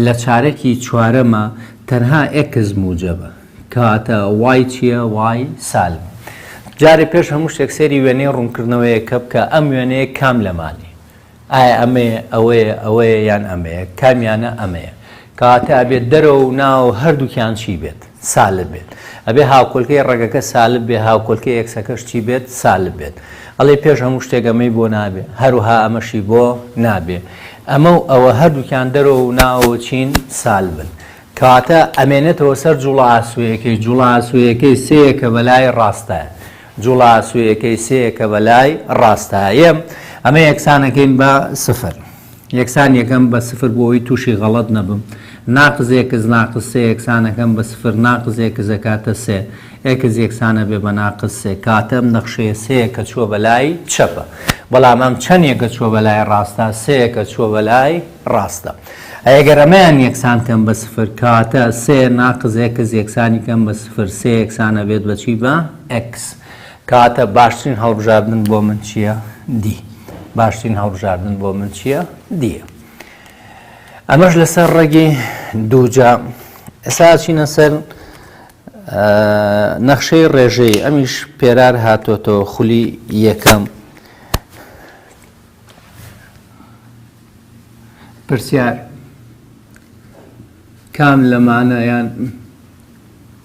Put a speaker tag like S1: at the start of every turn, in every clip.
S1: لە چارەکی چوارەمە تەنها ئێکس موجەبە کەواتە وای چیە وای سالب جارێ پێش هەموو شتێک سێری وێنەی ڕوونکردنەوەیە کە بکە ئەم وێنەیە کام لەمانی ئایا ئەمەیە ئەوەیە ئەوەیە یان ئەمەیە کامیانە ئەمەیە کەواتە ئەبێت دەرەوە و ناو هەردووکیان چی بێت سالب بێت ئەبێ هاوکۆلکەی ڕەگەکە سالب بێ هاوکۆلکەی ئێکسەکەش چی بێت سالب بێت ئەڵێ پێش هەموو شتێک ئەمەی بۆ نابێ هەروها ئەمەشی بۆ نابێ ئەمە و ئەوە هەردووکیان دەرەوە و ناوەوە چین سالبن کەواتە ئەمێنێتەوە سەر جوڵە ئاسوەیەکەی جوڵە ئاسوەیەکەی سەیەکە بەلای ڕاستە جوڵە ئاسوەیەکەی سەیەکە بەلای ڕاستە یەم ئەمە یەکسانەکەین بە سفر یەکسان یەکەم بە سفر بۆ ئەوەی تووشی غەڵەت نەبم ناقز ئێکس ناقز سێ یەکسان ئەکەم بە سفر ناقز ئێکس ئەکاتە سێ ئێکس یەکسان ئەبێ بە ناقز سێ کاتە ئەم نەخشەیە سێ یەکە چووە بە لای چەپە بەڵام ئەم چەند یەکە چووە بە لای ڕاستە سێ یەکە چووە بە لای ڕاستە ئەگەر ئەمەیان یەکسان کەم بە سفر کاتە سێ ناقز ئێکس یەکسانی کەم بە سفر سێ یەکسانە بێت بەچی بە ئێکس کەواتە باشترین هەڵبژاردن بۆ من چییە؟ دی باشترین هەڵبژاردن بۆ من چییە؟ دیە ئەمەش لەسەر ڕێگی دووجا ئێساچینە سەر نەخشەی ڕێژەی ئەمیش پێرار هاتۆتەوە خولی یەکەم پرسیار کام لەمانەیان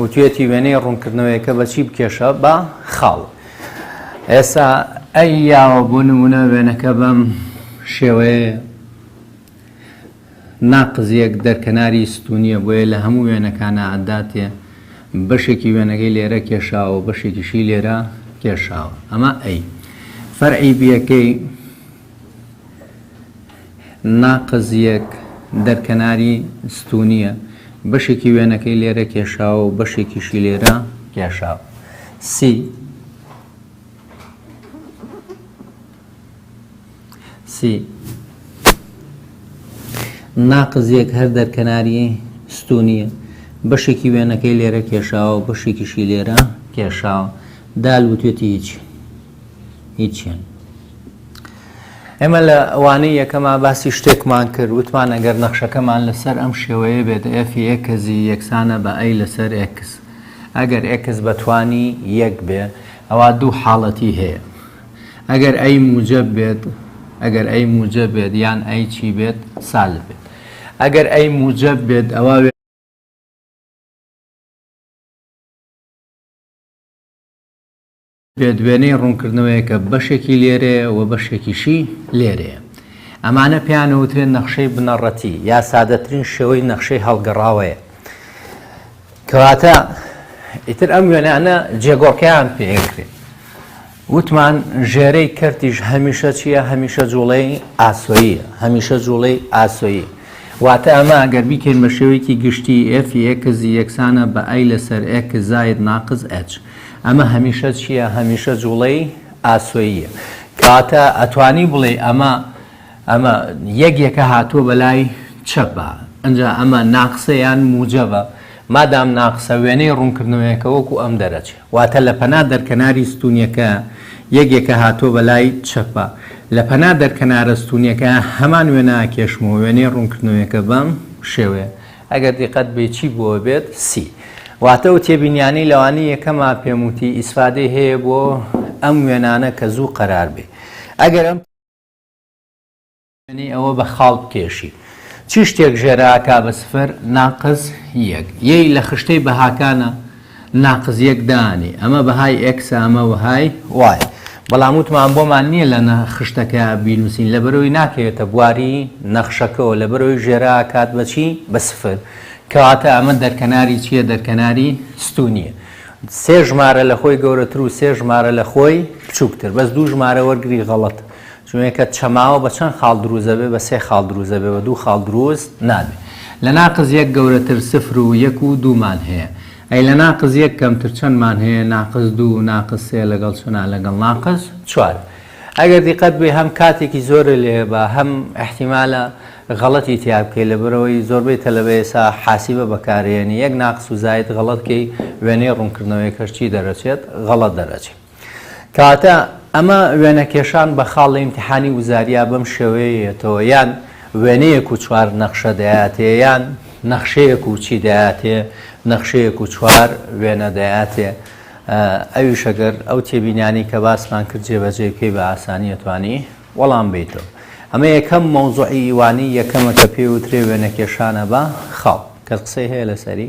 S1: وتویەتی وێنەی ڕوونکردنەوەیەکە بە چی بکێشە بە خاڵ ئێسا ئەی یاوە بۆ نمونە وێنەکە بەم شێوەیە ناقزیەک دەرکەناری ستونیە بۆیە لە هەموو وێنەکانە ئەداتێ بەشێکی وێنەکەی لێرە کێشاوە بەشێکیشی لێرە کێشاوە ئەمە ئەی فەرعی بیەکەی ناقز یەک، دەرکەناری ستوونییە، بەشێکی وێنەکەی لێرە کێشاوە و بەشێکیشی لێرە کێشاوە. سی، ناقز یەک هەر دەرکەناری ستوونییە، بەشێکی وێنەکەی لێرە کێشاوە و بەشێکیشی لێرە کێشاوە. دال وتوێتی هیچ. هیچیان ئێمە لە ئەوانەی یەکەما باسی شتێکمان کرد وتمان ئەگەر نەخشەکەمان لەسەر ئەم شێوەیە بێت ئەفی ئێکزی یەکسانە بە ئەی لەسەر ئێکس ئەگەر ئێکس بەتوانی یەک بێ ئەوە دوو حاڵەتی هەیە ئەگەر ئەی موجب بێت ئەگەر ئەی موجب بێت یان ئەی چی بێت سال بێت ئەگەر ئەی موجب بێت ئەوە بێدوێنەی ڕوونکردنەوەیەکە بەشێکی لێرەیە و بەشێکیشی لێرەیە. ئەمانە پێیان ئەوترێ نەخشەی بنەڕەتی یا سادەترین شێوەی نەخشەی هەڵگەڕاوەیە. کەواتە ئیتر ئەم وێنانە جێگۆڕکێیان پێ ئەکرێ. وتمان ژێرەی کەرتیش هەمیشە چییە هەمیشە جوڵەی ئاسۆییە هەمیشە جوڵەی ئاسۆیی. واتە ئەمە ئەگەر بیکەین بە شێوەیەکی گشتی ئێفی ئێکزی یەکسانە بە ئای لەسەر ئێک زاید ناقز ئەچ. ئەمە هەمیشە چیە هەمیشە جوڵەی ئاسۆییە کەواتە ئەتوانی بڵێ ئەمە ئەمە یەک یەکە هاتووە بەلای چەپە ئەجا ئەمە ناقسەیان موجەبە مادام ناقسە وێنەی ڕوونکردنەوەیەکە وەکو ئەم دەرەچێ واتە لە پەنا دەرکەناری ستونیەکە یەکێکە هاتووە بە لای چەپە لە پەنا دەرکەنارە ستونیەکە هەمان وێنا کێشمەوە وێنەی ڕوونکردنەوەیەکە بەم شێوەیە ئەگەر دیقەت بی چی بووە بێت سی واتە ئەو تێبینیانەی لەوانی یەکەما پێم وتی ئیسفادەی هەیە بۆ ئەم وێنانە کە زوو قەرار بێ ئەگەر ئەم وێنەی ئەوە بە خاڵ بکێشی چی شتێک ژێرا کا بە سفر ناقس یەک یەی لە خشتەی بەهاکانە ناقس یەک دانی ئەمە بەهای ئێکسە ئەمە وەهای وای بەڵام وتمان بۆمان نییە لە نە خشتەکە بینوسین لەبەرەوەی ناکەوێتە بواری نەخشەکەەوە لەبەرەوەی ژێرا کات بەچی بە سفر کەواتە ئەمە دەرکەناری چییە دەرکەناری ستونیە سێ ژمارە لە خۆی گەورەتر و سێ ژمارە لە خۆی بچووکتر بەس دوو ژمارە وەرگری غەڵەت چونکە چەماوە بە چەند خاڵ دروست دەبێت بە سێ خاڵ دروست دەبێت بە دوو خاڵ دروست نابێت لە ناقس یەک گەورەتر سفر و یەک و دوو مان هەیە ئەی لە ناقس یەک کەمتر چەند مان هەیە ناقس دوو ناقس سێ لەگەڵ چنا لەگەڵ ناقس چوار ئەگەر دیقەت بێ هەم کاتێکی زۆرە لێ بە هەم احتیمالە غەڵەتی تیا بکەی لەبەرەوەی زۆربەی تەلەبە ئێسا حاسیبە بەکارێنی یەک ناقس و زاید غەڵەت کەی وێنەی ڕوونکردنەوەیەکەش چی دەرەچێت غەڵەت دەرەچێت. کەواتە ئەمە وێنەکێشان بە خاڵی ئیمتیحانی وزاریا بەم شێوەیەیەتەوە یان وێنەیەک و چوار نەخشە دەیاتێ یان نەخشەیەک و چی دەیاتێ نەخشەیەک و چوار وێنە دەیاتێ ئەویش ئەگەر ئەو تێبینانی کە باسمان کرد جێبەجێ بکەی بە ئاسانیە توانی وەڵام بیتەوە ئەمە یەکەم مەوزوعی ئیوانی یەکەمە کە پێوترێ وێنەکێشانە بە خاڵ کە قسەی هەیە لەسەری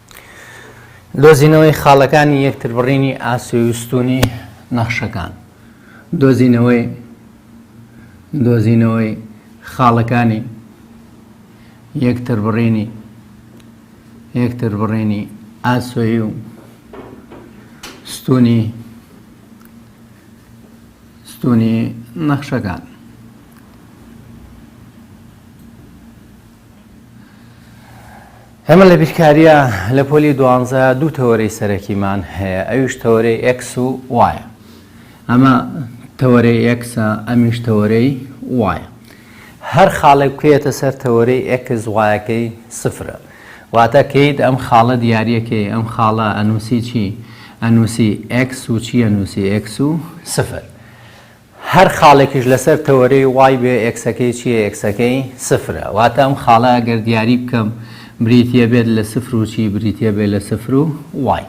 S1: دۆزینەوەی خاڵەکانی یەکتربڕینی ئاسۆی و ستوونی نەخشەکان دۆزینەوەی دۆزینەوەی خاڵەکانی یەکتربڕینی یەکتربڕینی ئاسۆی و ستوونی ستوونی نەخشەکان ئێمە لە بیرکارییە لە پۆلی دوانزە دوو تەوەرەی سەرەکیمان هەیە ئەویش تەوەرەی ئەکس و وایە ئەمە تەوەرەی ئەکسە ئەمیش تەوەرەی وایە هەر خاڵێک بکەیەتە سەر تەوەرەی ئەکس وایەکەی سفرە واتە کەیت ئەم خاڵە دیارەکەی ئەم خاڵە ئەنووسی چی ئەنووسی ئەکس و چی ئەنووسی ئەکس و سفر هەر خاڵێکیش لەسەر تەوەرەی وای بێ ئێکسەکەی چییە ئێکسەکەی سفرە واتە ئەم خاڵە ئەگەر دیاری بکەم بریتییە بێت لە سفر و چی بریتییە بێت لە سفر و وای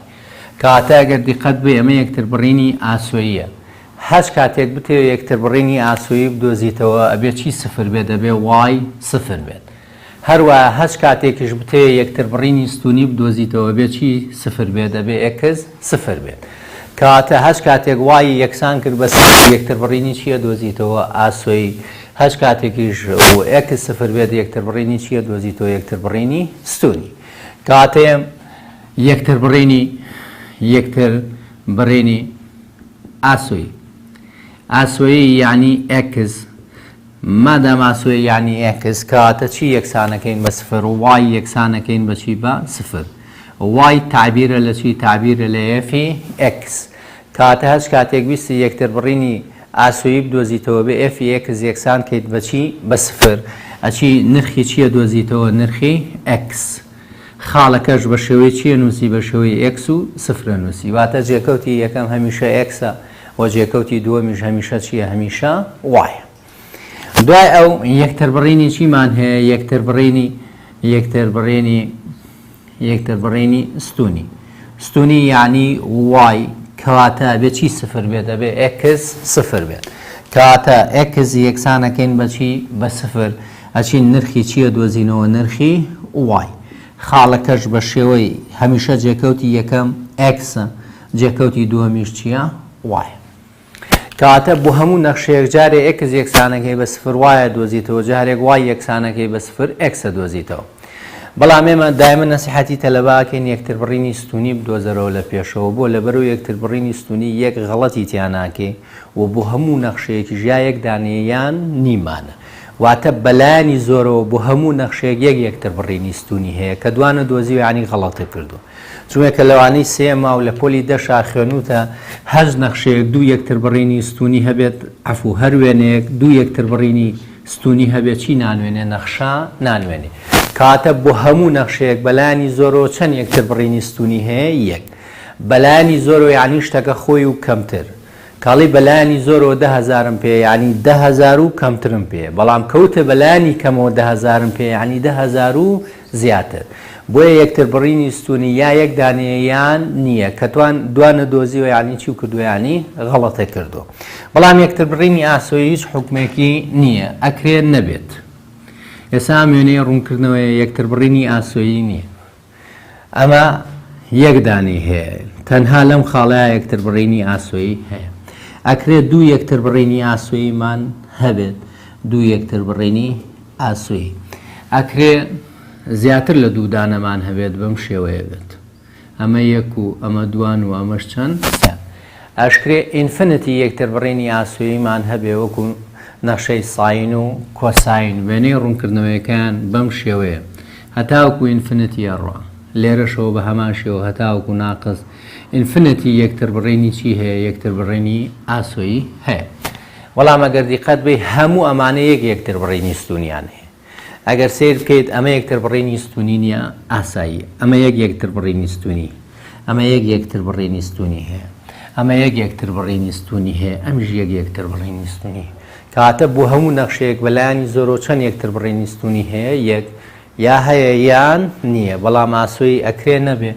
S1: کەواتە ئەگەر دیقەت بێ ئەمە یەکتربڕینی ئاسۆییە هەچ کاتێک بتەوێ یەکتربڕینی ئاسۆیی بدۆزیتەوە ئەبێ چی سفر بێت ئەبێ وای سفر بێت. هەروەها هەچ کاتێکیش بتەوێت یەکتربڕینی ستوونی بدۆزیتەوە بێ چی سفر بێت دەبێت ئێکس سفر بێت کەواتە هەچ کاتێک وای یەکسان کرد بە یەکتربڕینی چییە دۆزیتەوە ئاسۆی هەچ کاتێکیش و ئێکس سفر بێت یەکتربڕینی چییە دۆزیتەوە یەکتربڕینی ستوونی کاتێم یەکتربڕینی یەکتر بڕینی ئاسۆی ئاسۆیی یعنی ئێکس مادام ئاسۆی یانی ئێکس کەواتە چی یەکسانەکەین بە سفر و وای یەکسانەکەین بە چی بە سفر وای تابیرە لە چی تابیرە لە ئێفی ئێکس کەواتە هەچ کاتێک ویستی یەکتر بڕینی ئاسۆیی بدۆزیتەوە بە ئێفی ئێکس یەکسان کەیت بە چی بە سفر ئەچی نرخی چییە دۆزیتەوە نرخی ئێکس خاڵەکەش بە شێوەی چییە نووسی بە شێوەی ئێکس و سفرە نووسی واتە جێکەوتی یەکەم هەمیشە ئێکسە وە جێکەوتی دووەمیش هەمیشە چییە هەمیشە وایە دوای ئەو یەکتر بڕینی چیمان هەیە یەکتر بڕینی یەکتر بڕێنی یەکتر بڕێنی ستونی ستونی یعنی وای کەواتە بێ چی سفر بێت ئەبێ ئەکس سفر بێت کەواتە ئەکس یەکسانەکەین بەچی بە سفر ئەچین نرخی چییە دۆزینەوە نرخی وای خاڵەکەش بە شێوەی هەمیشە جێکەوتی یەکەم ئەکسە جێکەوتی دووەمیش چیە؟ وای. کەواتە بۆ هەموو نەخشەیەک جارێ ئێکس یەکسانەکەی بە سفر وایە دۆزیتەوە جارێک وای یەکسانەکەی بە سفر ئێکسە دۆزیتەوە. بەڵام ئێمە دایمە نەسیحەتی تەلەبە ئەکەین یەکتر بڕینی ستوونی بدۆزەرەوە لە پێشەوە بۆ لەبەرو یەکتر بڕینی ستوونی یەک غەڵەتی تیا ناکەی و بۆ هەموو نەخشەیەکیش یا یەک دانەیە یان نیمانە واتە بەلایەنی زۆرەوە بۆ هەموو نەخشەیەک یەک یەکتر بڕینی ستوونی هەیە کە دوانە دۆزیوە یانی غەڵەتە کردووە. جومێکە لەوانەی سێ ماو لە پۆلی دە شاخێنووتە هەشت نەخشەیەک دوو یەکتربڕینی ستوونی هەبێت عەفوو هەر وێنەیەک دوو یەکتربڕینی ستوونی هەبێت چی نانوێنێ نەخشە نانوێنێ کەواتە بۆ هەموو نەخشەیەک بەلایانی زۆرەوە چەند یەکتربڕینی ستوونی هەیە یەک بەلایانی زۆرەوە یعنی شتەکە خۆی و کەمتر کاڵی بەلایانی زۆرەوە ده هزارم پێ یعنی ده هزار و کەمترم پێ بەڵام کەوتە بەلایانی کەمەوە ده هزارم پێ یعنی ده هزار و زیاتر بۆیە یەکتر بڕینی ستونی یا یەک دانەیە یان نیە کە توان دوا نەدۆزیوە یانی چی و کردوە یانی غەڵەتە کردو بەڵام یەکتر بڕینی ئاسۆی هیچ حکمێکی نیە ئەکرێت نەبێت ئێسا ئەم وێنەیە ڕوونکردنەوەیە یەکتر بڕینی ئاسۆیی نیە ئەمە یەک دانی هەیە تەنها لەم خاڵەیە یەکتر بڕینی ئاسۆیی هەیە ئەکرێت دوو یەکتر بڕینی ئاسۆییمان هەبێت دوو یەکتر بڕینی ئاسۆی. ئەکرێ زیاتر لە دوو دانەمان هەبێت بەم شێوەیە بێت ئەمە یەک و ئەمە دووان و ئەمەش چەند؟ سە. ئەشکرێ ئینفنتی یەکتر بڕینی ئاسۆییمان هەبێ وەکو نەخشەی ساین و کۆساین وێنەی ڕوونکردنەوەیەکەیان بەم شێوەیە هەتاوەکو ئینفنتی ئەڕوا لێرەشەوە بە هەمان شێوە هەتاوەکو ناقس ئینفنتی یەکتر بڕینی چی هەیە یەکتر بڕینی ئاسۆیی هەیە. بەڵام ئەگەر دیقەت بەی هەموو ئەمانە یەک یەکتر بڕینی ستونیان هەیە ئەگەر سەیر بکەیت ئەمە یەکتر بڕینی ستونی نیە ئاسایی ئەمە یەک یەکتر بڕینی ستونی ئەمە یەک یەکتر بڕینی ستونی هەیە ئەمە یەک یەکتر بڕینی ستونی هەیە ئەمیش یەک یەکتر بڕینی ستونی کەواتە بۆ هەموو نەخشەیەک بەلایانی زۆرۆ چەند یەکتر بڕینی ستونی هەیە یەک یا هەیە یان نییە بەڵام ئاسۆی ئەکرێ نەبێ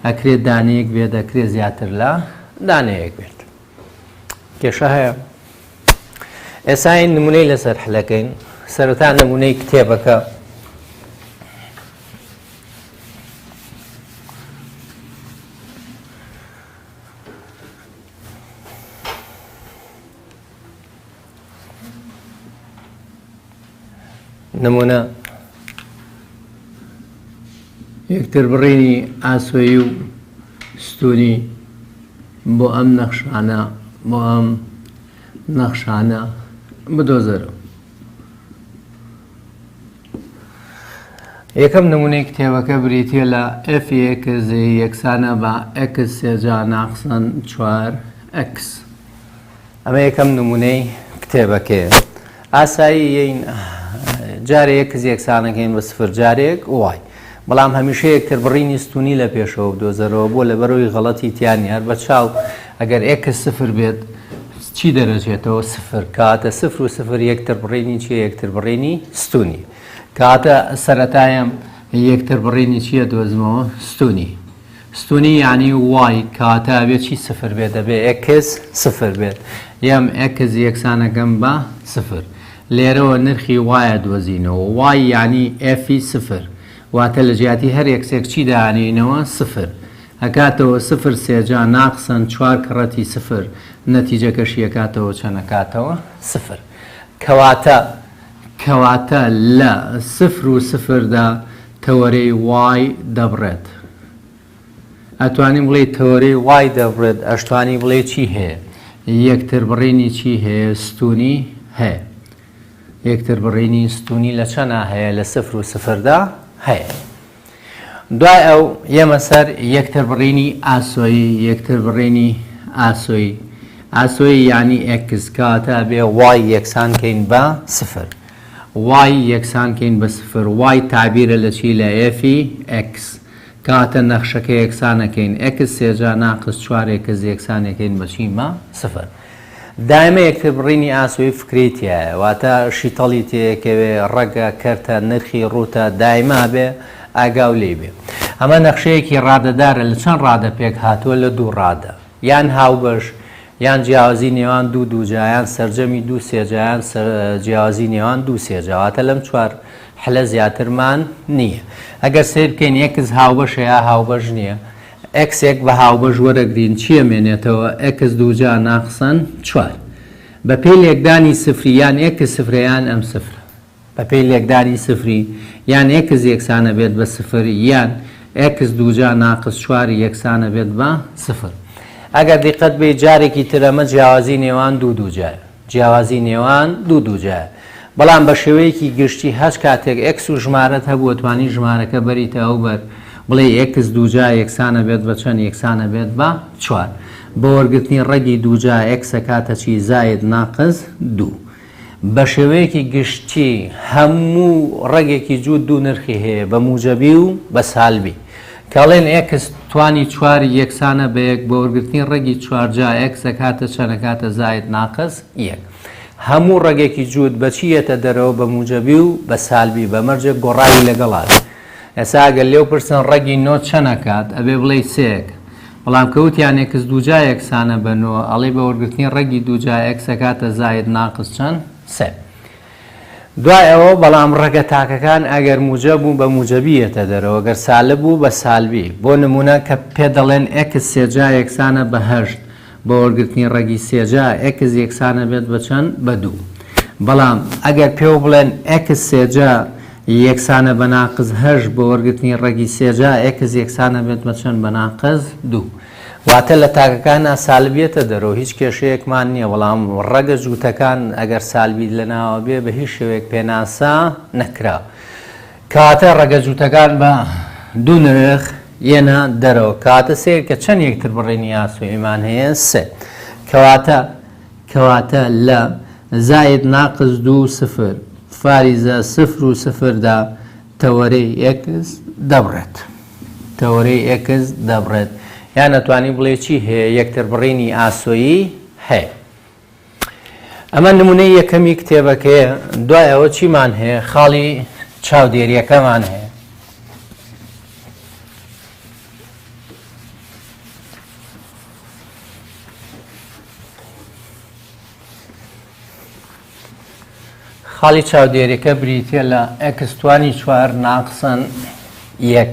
S1: ئەکرێت دانەیەک بێت ئەکرێ زیاتر لە دانەیەک بێت کێشە هەیە ئێساین نمونەی لەسەر حلەکەین سەرەتا نمونەی کتێبەکە نمونە یەکتر بڕینی ئاسۆی و ستونی بۆ ئەم نەخشانە بۆ ئەم نەخشانە بدۆزەرەوە یەکەم نمونەی کتێبەکە بریتە لە FX یەکسانە بە X سێجا ناخسن چوار X. ئەمە یەکەم نمونەی کتێبەکەیە ئاساییین جارەیە کز یەکسانەکەین بە سفر جارێک وای بەڵام هەمیشە یەکتر بڕینی ستونی لە پێشەوە دۆزەرەوە بۆ لە بەرەوەی غەڵەتی تیانیار بە چاو ئەگەر ئێکە سفر بێت چی دەرەچێتەوە سفر کاتە سفر و سفر یەکتر بڕینی چی یەکتر بڕینی ستونی کاتە سەتایم یەکتر بڕینی چییە دۆزمەوە ستونی ستونی یانی وای کاتە ئەبێ چی سفر بێت ئەبێ ئێکس سفر بێت یەم ئێکس یەکسانەکەم بە سفر لێرەوە نرخی وایە دۆزینەوە وای یانی ئێفی سفر واتە لە جیاتی هەر ئێکسێک چی دانێینەوە سفر ئەکاتەوە سفر سێجا ناقسەن چوار کڕەتی سفر نەتیجەکەشی ئەکاتەوە چەنەکاتەوە سفر کەواتە کەواتە لە سفر و سفردا تەوەرەی وای دەبڕێت ئەتوانی بڵێی تەوەرەی وای دەبڕێت ئەشتوانی بڵێی چی هەیە یەکتر بڕینی چی هەیە ستونی هەیە یەکتر بڕینی ستونی لە چەنا هەیە لە سفر و سفردا هەیە دوای ئەو یەمە سەر یەکتر بڕینی ئاسۆیی یەکتر بڕینی ئاسۆیی ئاسۆی یعنی ئەکس کاتە بێ وای یەکسان کەین بە سفر وای یەکسان کەین بە سفر وای تەعبیرە لە چی لە ئێفی ئێکس کاتە نەخشەکە یەکسان ئەکەین ئێکس سێجا ناقس چوار ئێکس یەکسان ئەکەین بە چی بە سفر دایمە یەکتر بڕینی ئاسۆی فکرەی تیایە واتە شیتەڵی تێیەکەوێ ڕەگە کەرتە نرخی ڕووتە دایما بێ ئاگاو لێی بێ ئەمە نەخشەیەکی ڕادەدارە لە چەند ڕادە پێک هاتووە لە دوو ڕادە یان هاوبەش، یان جیاوازی نێوان دوو دووجا، یان سەرجەمی دوو سێجا، یان جیاوازی نێوان دوو سێجا، واتە لەم چوار حلە زیاترمان نییە. ئەگەر سەیر بکەین ئێکس هاوبەشە یا هاوبەش نییە، ئێکس یەک بە هاوبەش وەرەگرین چی ئەمێنێتەوە؟ ئێکس دووجا ناقسەن چوار. بەپێی لێکدانی سفری یان ئێکس سفرە یان ئەم سفرە. بەپێی لێکدانی سفری، یان ئێکس یەکسانەبێت بە سفر، یان ئێکس دووجا ناقس چوار یەکسانەبێت بە سفر. ئەگەر دیقەت بێیت جارێکی تر ئەمە جیاوازی نێوان دوو دووجایە. جیاوازی نێوان دوو دووجایە. بەڵام بە شێوەیەکی گشتی هەچ کاتێک ئێکس و ژمارەت هەبووە توانی ژمارەکە بەریتە ئەو بەر، بڵێی ئێکس دووجا یەکسانەبێت بە چەند یەکسانەبێت بە چوار. بە وەرگرتنی ڕەگی دووجا ئێکس ئەکاتە چی زائید ناقس دوو. بەشێوەیەکی گشتی هەموو ڕەگێکی جووت دوو نرخی هەیە بە موجەبی و بە سالبی. کەڵێن ئێکس توانی چوار یەکسانە بە یەک بە وەرگرتنی ڕەگی چوار جا ئێکس ئەکاتە چەن ئەکاتە زائید ناقس یەک. هەموو ڕەگێکی جووت بە چی یەتە دەرەوە بە موجەبی و بە سالبی بە مەرجێک گۆڕاوی لەگەڵا بێ. ئێسا ئەگەر لێو پرسن ڕەگی نۆ چەند ئەکات ئەبێ بڵێی سێک بەڵام کە وتیان ئێکس دووجا یەکسانە بە نۆ ئەڵێی بە وەرگرتنی ڕەگی دووجا ئێکس ئەکاتە زاید ناقس چەند سێ دوای ئەوە بەڵام ڕەگە تاکەکان ئەگەر موجە بوو بە موجەبی یەتە دەرەوە گەر سالب بوو بە سالبی بۆ نمونە کە پێ دەڵێن ئێکس سێجا یەکسانە بە هەشت بۆ وەرگرتنی ڕەگی سێ جا ئێکس یەکسان ئەبێت بە چەند؟ بە دوو. بەڵام ئەگەر پێو بڵێن ئێکس سێ جا یەکسانە بە ناقس هەشت بۆ وەرگرتنی ڕەگی سێ جا ئێکس یەکسان ئەبێت بە چەند؟ بە ناقس دوو. واتە لە تاکەکانا سالب یەتە دەرەوە هیچ کێشەیەکمان نییە بەڵام ڕەگە جووتەکان ئەگەر سالبی لەناوە بێ بە هیچ شێوەیەک پێناسە نەکرا کاتە ڕەگە جووتەکان بە دوو نرخ یەنە دەرەوە کاتە سێر کە چەند یەکتر بڕێنی یاسوئیمان هەیە سێ کەواتە کەواتە لە زاید ناقز دوو سفر فاریزە سفر و سفردا تەوەرەی ئێکس دەبڕێت تەوەرەی ئێکس دەبڕێت یان نەتوانی بڵێ چی هەیە یەکتر بڕینی ئاسۆیی هەیە ئەمە نمونەی یەکەمی کتێبەکەیە دوای ئەوە چیمان هەیە خاڵی چاودێریەکەمان هەیە خاڵی چاودێریەکە بریتە لە ئەکستوانی چوار ناقسن یەک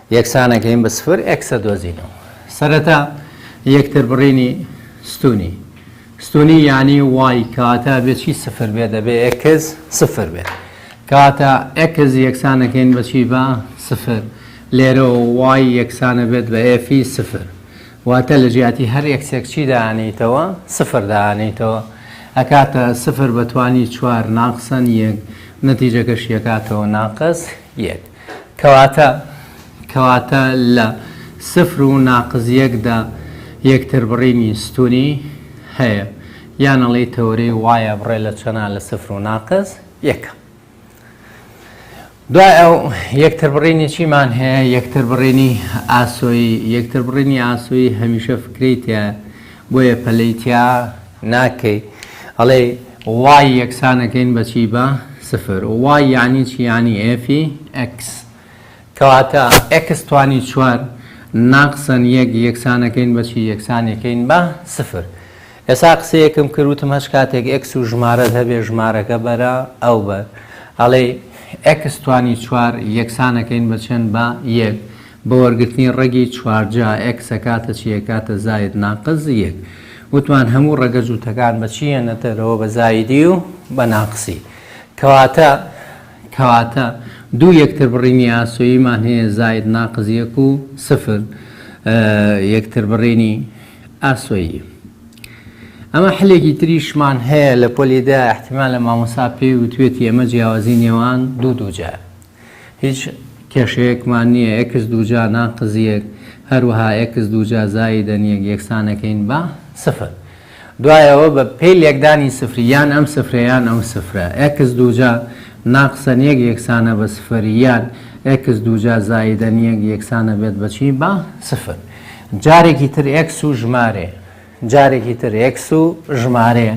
S1: یەکسانەکەین بە سفر ئێکس دەدۆزینەوە. سەرەتا یەکتر بڕینی ستوونی ستوونی یانی وای کاتە بێ چی سفر بێ دەبێ ئێکس سفر بێت کاتە ئێکس یەکسانەکەین بە چی بە سفر لێرەوە وای یەکسانە بێت بە ئێفی سفر واتە لە جیاتی هەر یەکسێک چی دانیتەوە سفر دانیتەوە ئەکاتە سفر بەتوانی چوار ناقسەن یەک نەتیجەکەش یەکاتەوە ناقەس یەک کەواتە، کەواتە لە، سفر و ناقز یەک، دا یەکتربڕینی ستوونی هەیە، یان ئەڵێی تەوەرەی وایە بڕێ لە چەنە لە سفر و ناقز یەکە. دوای ئەو، یەکتربڕینی چیمان هەیە؟ یەکتربڕینی ئاسۆیی، یەکتربڕینی ئاسۆیی هەمیشە فکرەی تیایە، بۆیە پەلەی تیا ناکەی ئەڵێی وای یەکسانەکەین بە چی بە سفر وای یانی چی یانی ئێفی ئێکس کەواتە ئێکس توانی چوار ناقسەن یەک یەکسانەکەین بە چی یەکسانەکەین بە سفر ئێسا قسەیەکم کردوتم هەچ کاتێک ئێکس و ژمارەت هەبێ ژمارەکە بەرە ئەو بەر ئەڵێ ئێکس توانی چوار یەکسانەکەین بە چەند بە یەک بە وەرگرتنی ڕەگی چوار جا، ئێکس ئەکاتە چی؟ ئەکاتە زاید ناقس یەک. وتمان هەموو ڕەگە جووتەکان بە چی یەنە دەرەوە؟ بە زایدی و بە ناقسی. کەواتە کەواتە دوو یەکتربڕینی ئاسۆییمان هەیە، زاید ناقس یەک و سفر یەکتربڕینی ئاسۆیی. ئەمە حلێکی تریشمان هەیە لە پۆلی دە، ئیحتیمالە مامۆستا پێی وتوێتی ئەمە جیاوازی نێوان دوو دووجایە. هیچ کێشەیەکمان نییە ئێکس دووجا ناقس یەک هەروەها ئێکس دووجا زایدەن یەک یەکسانەکەین بە سفر. دوای ئەوە بە پێی لێکدانی سفری یان ئەم سفرە یان ئەو سفرە ئێکس دووجا ناقسەن یەک یەکسانە بە سفر یان ئێکس دووجا زایدەن یەک یەکسانە بێت بە چی؟ بە سفر. جارێکی تر ئێکس و ژمارەیە. جارێکی تر ئێکس و ژمارەیە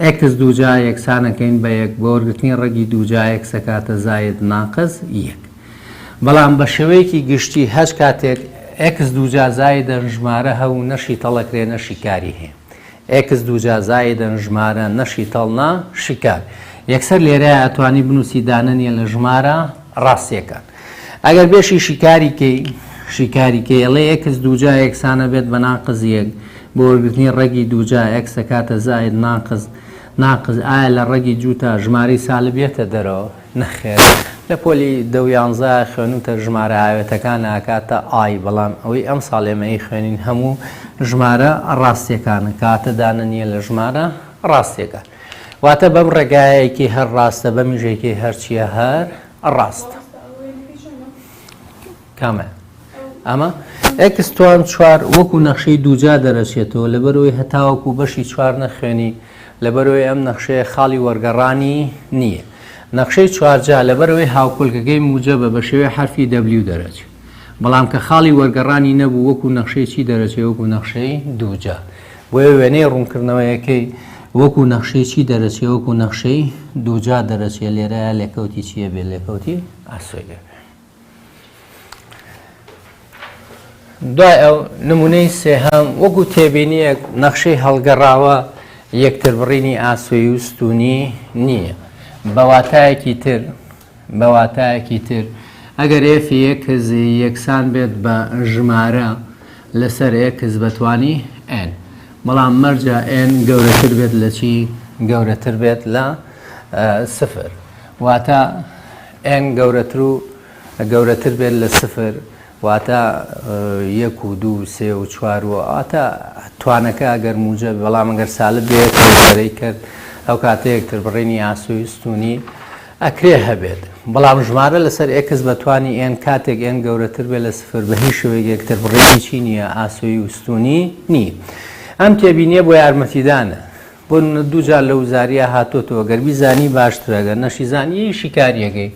S1: ئێکس دووجا یەکسانەکەین بە یەک بۆ وەرگرتنی ڕەگی دووجا ئێکسەکاتە زاێد ناقس یەک بەڵام بە شێوەیەکی گشتی هەچ کاتێک ئێکس دووجا زاێدەن ژمارە هە و نەشی تەڵەکرێ نەشی کاری هەیە ئێکس دووجا زاێدەن ژمارە نەشی تەڵنا شیکار یەکسەر لێرە ئەتوانی بنووسی دانەنیە لە ژمارە ڕاستیەکان ئەگەر بێشی شیکاری کەی، شیکاری کەی، ڵێ ئێکس دووجا یەکسانە بێت بە ناقس یەک، بۆ وەرگرتنی ڕەگی دووجا، ئێکس دەکاتە زائید ناقس، ناقس، ئایا لە ڕەگی جووتا ژمارەی سالب یەتە دەرەوە؟ نەخێر. لە پۆلی دە و یانزە خوێنووتە ژمارە ئاوێتەکان ئەکاتە ئای، بەڵام ئەوەی ئەمساڵ ئێمە ئەیخوێنین هەموو ژمارە ڕاستییەکانە، کەواتە دانە نییە لە ژمارە ڕاستییەکان. واتە بەم ڕێگایە یەکەی هەر ڕاستە، بەمیش یەکەی هەرچییە هەر ڕاست کامە ئەمە ئەکستوان چوار وەکو نەخشەی دووجا دەرەچێتەوە لەبەرەوەی هەتاوەکو بەشی چوار نەخوێنی لەبەرەوەی ئەم نەخشەیە خاڵی وەرگەڕانی نییە نەخشەی چوارجا لەبەرەوەی هاوکولکەکەی موجە بە بە شێوەی حرفی دەبلی و دەرەچێت بەڵام کە خاڵی وەرگەڕانی نەبوو وەکو نەخشەی چی دەرەچێ وەکو نەخشەی دووجا بۆیە وێنەی ڕوونکردنەوەیەکەی وەکو نەخشەی چی دەرەچێ وەکو نەخشەی دووجا دەرەچێ لێرە لێکەوتی چیە بێ لێکەوتی ئاسۆی لێ دوای ئەو نمونەی سێهام وەکو تێبینیەک نەخشەی هەڵگەڕاوە یەکتر بڕینی ئاسۆی و ستونی نییە بەواتایەکی تر بە واتایەکی تر، ئەگەر ئێفی ئێکس یەکسان بێت بە ژمارە لەسەر ئێکس بە توانی ئێن، بەڵام مەرجە ئێن گەورەتر بێت لە چی؟ گەورەتر بێت لە سفر. واتە ئێن گەورەتر و گەورەتر بێت لە سفر. واتە یەک و دوو و سێ و چوار و واتە توانەکە ئەگەر موجە بەڵام ئەگەر سالب بێت بەرەی کرد ئەو کاتە یەکتر بڕینی ئاسوی ستونی ئەکرێ هەبێت بەڵام ژمارە لەسەر ئێکس بە توانی ئێن کاتێک ئێن گەورەتر بێت لە سفر بە هیچ شوێک یەکتر بڕینی چی نییە ئاسوی و ستونی نی ئەم تێبینیە بۆ یارمەتیدانە بۆ نمونە دوو جار لە وزاریا هاتۆتەوە گەر بیزانی باشترە گەر نەشیزانی یەی شیکاریەکەی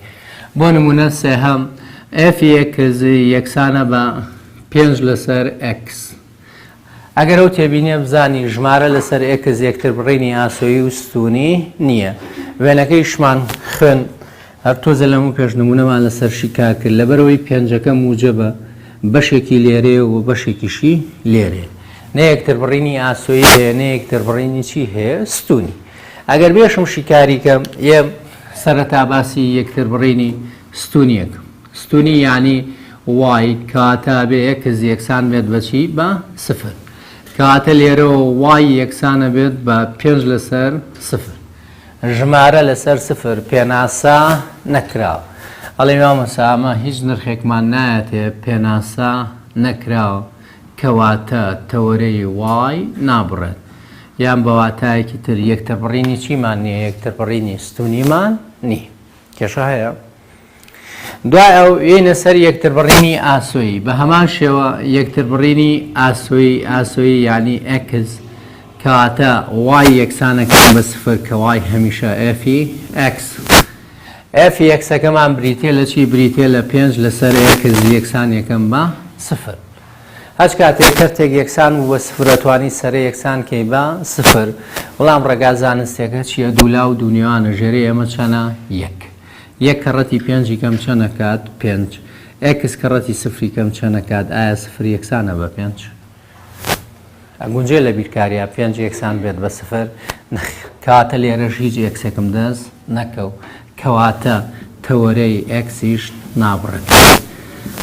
S1: بۆ نمونە سێهەم ئەف یەکزی یەکسانە بە پێنج لەسەر ئەکس ئەگەر ئەو تێبینیە بزانی ژمارە لەسەر ئەکس یەکتر بڕینی ئاسۆیی و ستونی نییە وێنەکەیشمان خوێن هەر تۆزێ لەمەو پێش نموونەمان لەسەر شیکار کرد، لەبەرئەوەی پێنجەکە موجەبە، بەشێکی لێرەیە و بەشێکیشی لێرەیە. نە یەکتربڕینی ئاسۆیی هەیە، نە یەکتربڕینی چی هەیە؟ ستوونی. ئەگەر بێشم شیکاری کەم، یە سەرەتا باسی یەکتربڕینی ستوونی ئەکەم. ستوونی یانی وای کاتە ئەبێ ئێکس یەکسان بێت بە چی؟ بە سفر. کاتە لێرەوە وای یەکسان ئەبێت بە پێنج لەسەر سفر. ژمارە لەسەر سفر پێناسە نەکراو ئەڵێ مامۆسا ئەمە هیچ نرخێکمان نایەتێ پێناسە نەکراو کەواتە تەوەرەی y نابڕێت یان بەواتایەکی تر یەکتربڕینی چیمان نییە یەکتربڕینی ستونیمان نی کێشە هەیە؟ دوای ئەو یینە سەر یەکتربڕینی ئاسۆیی بە هەمان شێوە یەکتربڕینی ئاسۆیی ئاسۆیی یعنی ئەکس کەواتە وای یەکسانەکان بە سفر کە وای هەمیشە ئەفی ئەکس ئەفی یەکسەکەمان بریتێ لە چی بریتێ لە پێنج لەسەر ئەکس یەکسان یەکەم بە سفر هەچ کاتێک کەرتێک یەکسان بوو بە سفرەتوانی سەرە یەکسان کەی بە سفر بەڵام ڕێگا زانستێکە چییە دوولا و دوونیوانە ژێری ئەمە چەنە یەک یەک کەڕەتی پێنجی کەم چەند ئەکات؟ پێنج. ئێکس کەڕەتی سفری کەم چەند ئەکات؟ ئایا سفر یەکسانە بە پێنج؟ ئەگونجێ لە بیرکاریا پێنج یەکسان بێت بە سفر؟ نەخێر. کەواتە لێرەش هیچ ئێکسێکم دەست نەکەوت. کەواتە تەوەرەی ئێکسیش نابڕێت.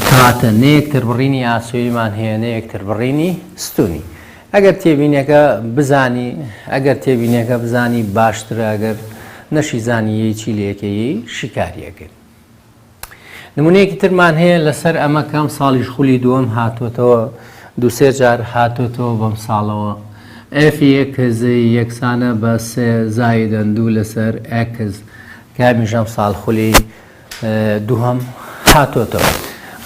S1: کەواتە نە یەکتربڕینی ئاسۆییمان هەیە نە یەکتربڕینی ستوونی. ئەگەر تێبینەکە بزانی ئەگەر تێبینەکە بزانی باشترە ئەگەر نەشی زانی یەی چی لەکە یەی شیکاریەکەی نمونەیەکی ترمان هەیە لەسەر ئەمە کەم ساڵیش خولی دووەم هاتووەتەوە دوسێ جار هاتووەتەوە بەم ساڵەوە ئەف یەکزی یەکسانە بە سێ زایدەن دوو لەسەر ئەکس کامیشەم ساڵ خولی دووهەم هاتۆتەوە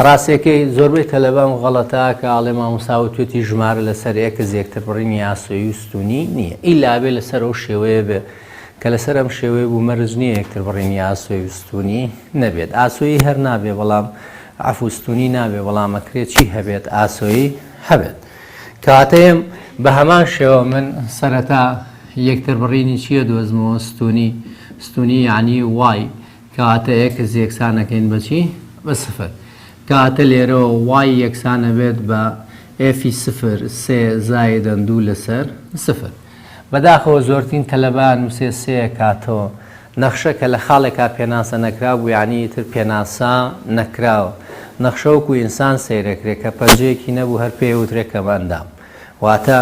S1: ڕاستەکەی زۆربەی تەلەبان غەڵەتا کە ئاڵێ ماموساوە توێتی ژمارە لەسەر ئێکس یەکتر بڕینی ئاسۆی و ستونی نییە ئیلابێ لەسەر ئەو شێوەیە بێ کە لەسەر ئەم شێوەیە بوو مەرز نییە یەکتر بڕینی ئاسۆی و ستونی نەبێت ئاسۆیی هەر نابێ بەڵام ئەفوستونی نابێ بەڵامەکرێت چی هەبێت ئاسۆیی هەبێت کاتەیەم بە هەمان شێوە من سەرەتا یەکتر بڕینی چییە دۆزمەوە ستونی ستونی یعنی وای کە واتە ئێکس یەکسان ئەکەین بە چی؟ بە سفر. کە واتە لێرەوە وای یەکسان ئەبێت بە ئێفی سفر سێ زایدەن دوو لەسەر سفر. بەداخەوە زۆرترین تەلەبە ئەنووسێ سێ ئەکاتەوە. نەخشە کە لە خاڵێکا پێناسە نەکرابوو یانی ئیتر پێناسە نەکراوە. نەخشە وەکوو ئینسان سەیر ئەکرێ کە پەنجەیەکی نەبوو هەر پێی ئەوترێ کەمئەندام. واتە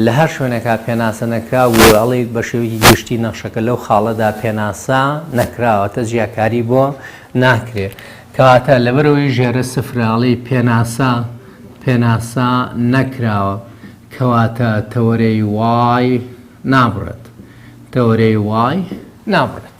S1: لە هەر شوێنێکا پێناسە نەکراو بوو و ئەڵێیت بە شێوەیەکی گشتی نەخشەکە لەو خاڵەدا پێناسە نەکراوەتە جیاکاری بۆ ناکرێ. کەواتە لەبەرئەوەی ژێرە سفرە ئەڵێی پێناسە پێناسە نەکراوە کەواتە تەوەرەی وای نابڕێت. تەوەرەی وای نابڕێت.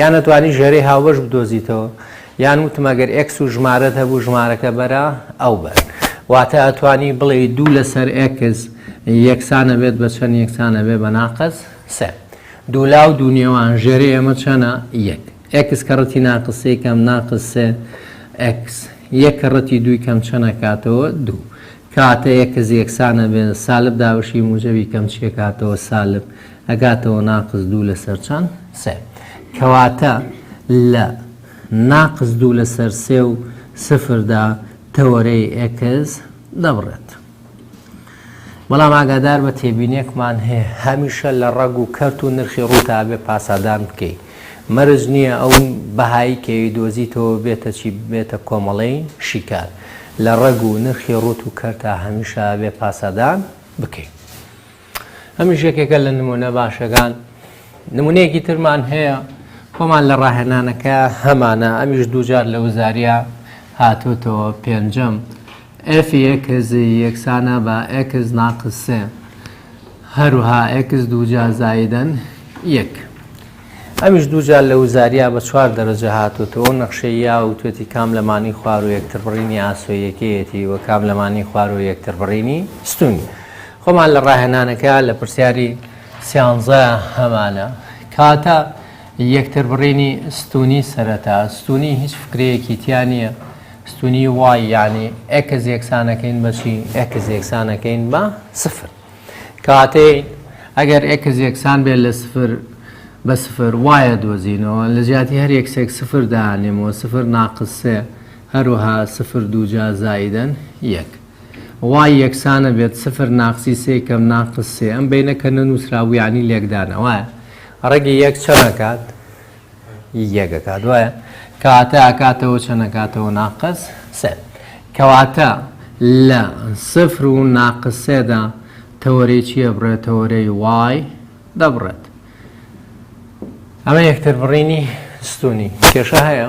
S1: یان ئەتوانی ژێرەی هاوبەش بدۆزیتەوە یان وتم ئەگەر ئێکس و ژمارەت هەبوو ژمارەکە بەرە ئەو بەر واتە ئەتوانی بڵێ دوو لەسەر ئێکس یەکسانە بێت بە چەند یەکسانە بێ بە ناقەس سێ دوولا و دوونێوان ژێری ئێمە چەنە یەک ئێکس کە ڕەتی ناقسەی کەم ناقس سێ ئەکس یەک کە ڕەتی دووی کەم چەنە کاتەوە دوو کاتە یەکەز یەکسانە بێن سالب داوشی موجەوی کەم چیەکاتەوە سالب ئەگاتەوە ناقس دوو لەسەر چەند؟ سێ. کەواتە لە ناقس دوو لەسەر سێ و سفردا تەوەرەی ئێکس دەبڕێت. بەڵام ئاگادار بە تێبینێکمان هەیە هەمیشە لە ڕەگ و کەرت و نرخی ڕووتا بێ پاسادان بکەی. مەرج نییە ئەو بەهایی کەوی دۆزیتەوە بێتە چی بێتە کۆمەڵەی شیکار. لە ڕەگ و نرخی ڕووت و کەرتا هەمیشە بێ پاسادان بکەی. ئەمیش یەکێکە لە نمونە باشەکان نمونەیەکی ترمان هەیە خۆمان لە ڕاهێنانەکە هەمانە ئەمیش دووجار لە وزاریا هاتوتەوە پێنجەم ئەف یەکزی یەکسانە بە ئەکس ناقسێ هەروها ئەکس دووجار زایدەن یەک ئەمیش دووجار لە وزاریا بە چوار دەرەجە هاتوتەوە نەخشەی یا و توێتی کام لەمانی خوار و یەکتربڕینی ئاسۆیەکەیەتی و کام لەمانی خوار و یەکتربڕینی ستونی خۆمان لە ڕاهێنانەکە لە پرسیاری سیانزە هەمانە کاتە یەکتر بڕینی ستوونی سەرەتا ستوونی هیچ فکرەیەکی تیا نییە ستوونی وای یانی ئێکس یەکسانەکەین بەچی ئێکس یەکسانەکەین بە سفر کاتەی ئەگەر ئێکس یەکسان بێت لە سفر بە سفر وایە دۆزینەوە لە جیاتی هەر یەکسێک سفر دانێمەوە سفر ناقسێ هەروها سفر دووجا زایدەن یەک وای یەکسانە بێت سفر ناقسی سێ کەم ناقس سێ ئەم بەینە کە نەنووسرابوو یانی لێکدانە وایە ڕەگی یەک چەند ئەکات یەک ئەکات وایە کەواتە ئەکاتەوە چەند ئەکاتەوە ناقس سێ کەواتە لە سفر و ناقس سێدا تەوەرەی چییە بڕێت تەوەرەی وای دەبڕێت ئەمە یەکتر بڕینی ستونی کێشە هەیە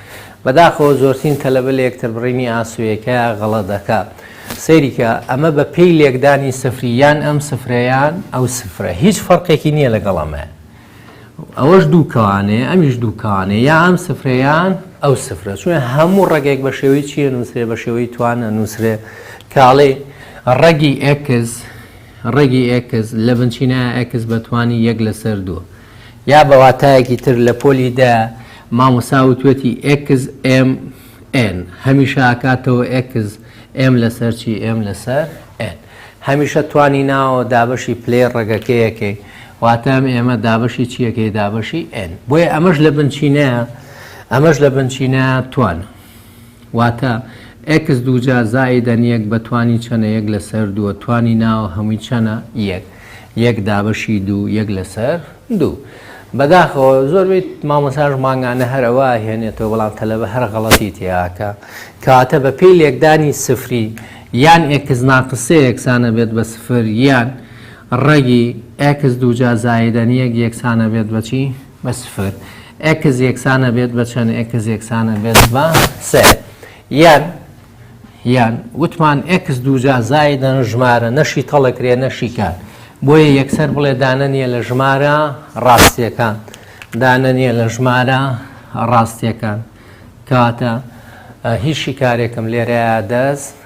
S1: بەداخەوە زۆرترین تەلەبە لە یەکتر بڕینی ئاسۆیەکەیا غەڵە دەکا سەیری کە ئەمە بە پێی لێکدانی سفری یان ئەم سفرە یان ئەو سفرە هیچ فەرقێکی نییە لەگەڵ ئەمەیە ئەوەش دوو کەوانەیە ئەمیش دوو کەوانێ یا ئەم سفرەیان ئەو سفرە چون هەموو ڕێگێک بە شێوەی چیە نووسێ بە شێوەی توانە نووسرێ کاڵێ ڕەگی ئەکس ڕێگی ئەکس لە بنچینە ئەکس بەتوانی یەک لەسەر دووە یا بە واتایەکی تر لە پۆلی دە مامۆستا وتوویەتی ئێکس ئێم ئێن هەمیشە ئەکاتەوە ئێکس ئێم لەسەر چی ئێم لەسەر ئێن هەمیشە توانی ناوە دابەشی پلەی ڕەگەکەیەکەی واتە ئەم ئێمە دابەشی چیەکەی دابەشی ئێن بۆیە ئەمەش لە بنچینەیە ئەمەش لە بنچینە توانە واتە، ئێکس دووجا زائیدەن یەک بە توانی چەنە یەک لەسەر دووە توانی ناوە هەمووی چەنە؟ یەک. یەک دابەشی دوو یەک لەسەر دوو. بەداخەوە زۆربەی مامۆستاش مانگانە هەر ئەوە ئەهێنێتەوە بەڵام تەلەبە هەر غەڵەتی تێئاکا. کەواتە بە پێی لێکدانی سفری یان ئێکس ناقس سێ یەکسانەبێت بە سفر یان ڕەگی ئێکس دووجا زائیدەن یەک یەکسانەبێت بە چی؟ بە سفر ئێکس یەکسان ئەبێت بە چەند ئێکس یەکسان ئەبێت بە سێ یان یان وتمان ئێکس دووجا زایدە ژمارە نەشی تەڵەکرێ نەشیکات بۆیە یەکسەر بڵێ دانە نیە لە ژمارە ڕاستیەکان دانە نیە لە ژمارە ڕاستیەکان کاتە هیچ شیکارێکم لێرەیە دەست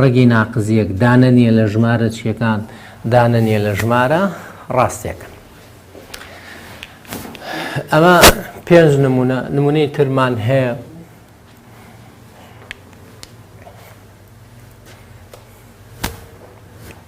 S1: ڕەگی ناقز یەک دانە نییە لە ژمارە چییەکان دانە نییە لە ژمارە ڕاستیەکان. ئەمە پێنج نمونە نمونەی ترمان هەیە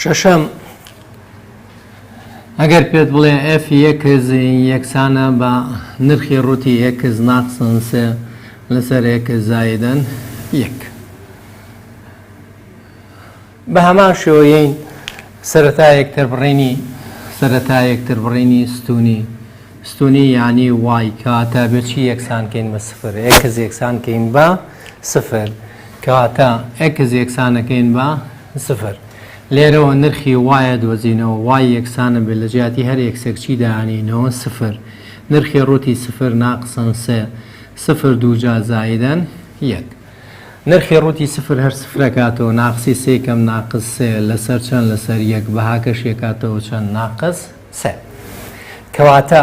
S1: شەشەم، ئەگەر پێت بڵێ ئێف یەکس یەکسانە بە نرخی ڕووتی ئێکس ناقسن سێ لەسەر ئێکس زایدەن یەک بە هەمان شێوەیەین سەرەتا یەکتر بڕینی سەرەتا یەکتر بڕینی ستونی ستونی یعنی وای کاتە بچی یەکسانکەین بە سفر ئێکس یەکسانکەین بە سفر، کەواتە ئێکس یەکسانەکەین بە سفر. لێرەوە نرخی وای دۆزینەوە، وای یەکسانە بێت لە جیاتی هەر ئێکسێک چی دانێینەوە؟ سفر. نرخی ڕووتی سفر ناقسەن سێ، سفر دووجا زایدەن یەک. نرخی ڕووتی سفر هەر سفرەکاتەوە، ناقسی سێ کەم ناقس سێ لەسەر چەند؟ لەسەر یەک، بەهاکەش یەکاتەوە چەند؟ ناقس سێ. کەواتە.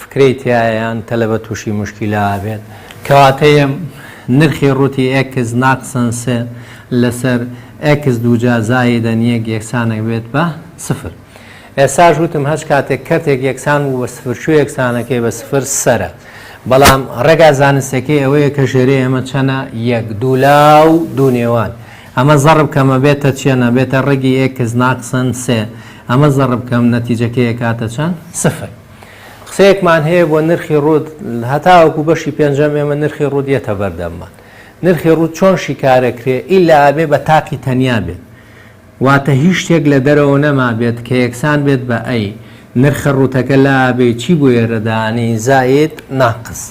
S1: فکرەی تیایە یان تەلەبە توشی موشکیلە ئابێت کەواتەێ نرخی ڕوتی ئێکس ناقسەن سێ لەسەر ئێکس دووجا زایدەن یەک یەکسانەک بێت بە سفر ئێساش وتم هەچ کاتێک کەرتێک یەکسان بوو بە سفر چوو یەکسانەکەی بە سفر سەرە بەڵام ڕێگا زانستەکەی ئەوەیە کە ژێری ئێمە چەنە یەک دوولا و دوو نێوان ئەمە زەڕب کەمە بێتە چێنە بێتە ڕێگی ئێکس ناقسەن سێ ئەمە زەڕب کەم نەتیجەکەی کاتە چەند سفر قسەیەکمان هەیە بۆ نرخی ڕوود هەتاوەکو بەشی پێنجەم ئێمە نرخی ڕوود یەتە بەردەممان نرخی ڕوود چۆن شیکارەکرێ ئیلا ئەبێ بە تاقی تەنیا بێت واتە هیچ شتێک لە دەرەوە نەما بێت کە یەکسان بێت بە ئەی نرخە ڕوتەکە لا ئەبێ چی بۆ ئێرەدانی زاید ناقس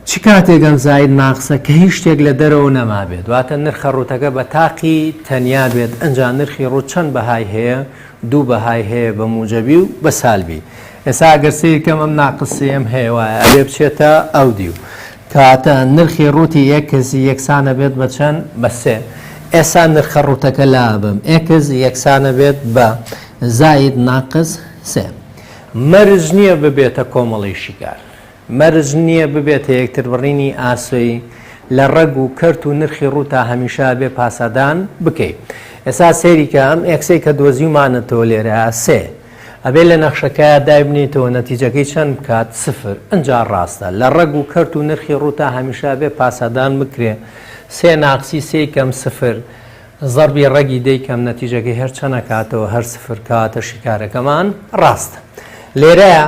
S1: چ کاتێک ئەم زاید ماکسە کە هیچ شتێک لە دەرەوە نەمابێت واتە نرخە ڕووتەکە بە تاقی تەنیا بێت ئەنجا نرخی ڕووت چەند بەهای هەیە دوو بەهای هەیە بە موجەبی و بە سالبی ئێسا ئەگەر سەیر کەم ئەم ناقس سێم هەیە وایە ئەبێ بچێتە ئەو دیو کاتە نرخی ڕووتی ئێکس یەکسانە بێت بە چەند بە سێ ئێسا نرخە ڕووتەکە لابم ئێکس یەکسانە بێت بە زاید ناقس سێ مەرج نییە ببێتە کۆمەڵی شیکار مەرج نییە ببێتە یەکتربڕینی ئاسۆی لە ڕەگ و کەرت و نرخی ڕوو تا هەمیشە ئەبێ پاسادان بکەی ئێسا سەیری کە ئەم ئێکسەی کە دۆزیومانەتەوە لێرە سێ ئەبێ لە نەخشەکەیا دایبنێیتەوە نەتیجەکەی چەند بکات سفر ئنجا ڕاستە لە ڕەگ و کەرت و نرخی ڕوو تا هەمیشە ئەبێ پاسادان بکرێ سێ ناقسی سێی کەم سفر زەڕبی ڕەگی دەیکەم نەتیجەکەی هەر چەنە کاتەوە هەر سفر کەواتە شیکارەکەمان ڕاستە لێرەیە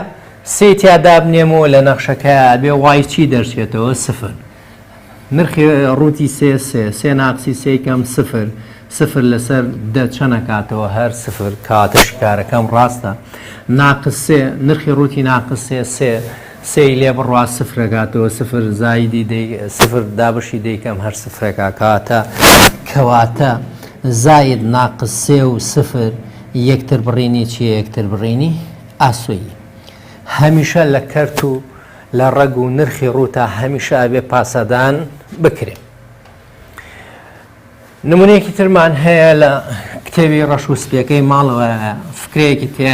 S1: سێی تیا دابنێم و لە نەخشەکەیا بێ وای چی دەرچێتەوە سفر نرخی ڕووتی سێ سێ سێ ناقسی سێکەم سفر سفر لەسەر دە چەنە کاتەوە هەر سفر کاتە شیکارەکەم ڕاستە ناقسێ نرخی ڕووتی ناقسێ سێ سێی لێ بڕوا سفرەکاتەوە سفر زایدی دەی سفر دابشی دەیکەم هەر سفرەکە کاتە کەواتە زاید ناقس سێ و سفر یەکتر بڕینی چیە یەکتر بڕینی ئاسۆیی هەمیشە لە کەرت و لە ڕەگ و نرخی ڕووتا هەمیشە ئەبێ پاسەدان بکرێت نمونەیەکی ترمان هەیە لە کتێوی ڕەش و سپیەکەی ماڵەوە فکرەیەکی تێ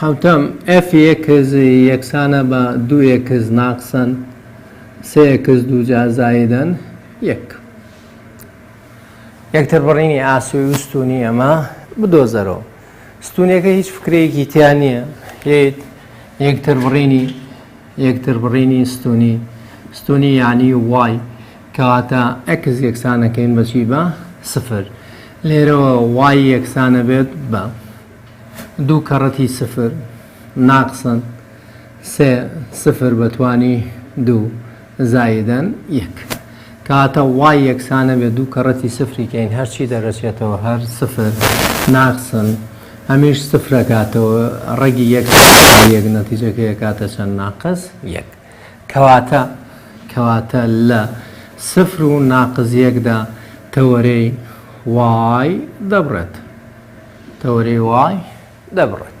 S1: حەوتەم، ئێف یەکس یەکسانە بە دوو ئێکس ناقسەن سێ ئێکس دووجار زایدەن یەک. یەکتر بڕینی ئاسۆی و ستوونی ئەمە بدۆزەرەوە. ستوونەکە هیچ فکرەیەکی تیا نییە یەکتر بڕینی یەکتربڕینی ستوونی، ستوونی یانی وای، کەواتە ئێکس یەکسانەکەین بە چی؟ بە سفر. لێرەوە وای یەکسانە بێت بە دوو کەڕەتی سفر ناقسەن سێ سفر بە توانی دوو زایدەن یەک. کاتە وای یەکسانە بێ دوو کەڕەتی سفری کەین هەرچی دەرەچێتەوە هەر سفر ناقسن هەمیش سفرەکاتەوە ڕەگی یەک یەک نەتیجەکە یەکاتە چەند ناقس یەک کەواتە کەواتە لە سفر و ناقز یەکدا تەوەرەی وای دەبڕێت تەوەرەی وای دەبڕێت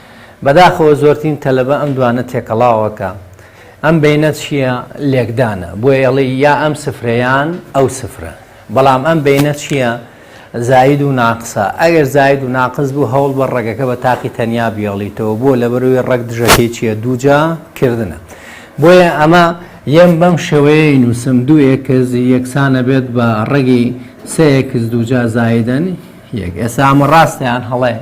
S1: بەداخەوە زۆرترین تەلەبە ئەم دوانە تێکەڵاوە کە ئەم بەینە چییە لێکدانە بۆیە ئەڵێ یا ئەم سفرەیان ئەو سفرە بەڵام ئەم بەینە چییە زاید و ناقسە ئەگەر زاید و ناقس بوو هەوڵ بە ڕەگەکە بە تاقی تەنیا بیاڵیتەوە بۆ لەبەروی ڕەگ دژەکەی چییە دووجا کردنە بۆیە ئەمە یەم بەم شێوەیەی نووسم دوو ئێکز یەکسانە بێت بە ڕەگی سەیەکز دووجا زایدن یەک ئێسا ئەمە ڕاستیان هەڵەیە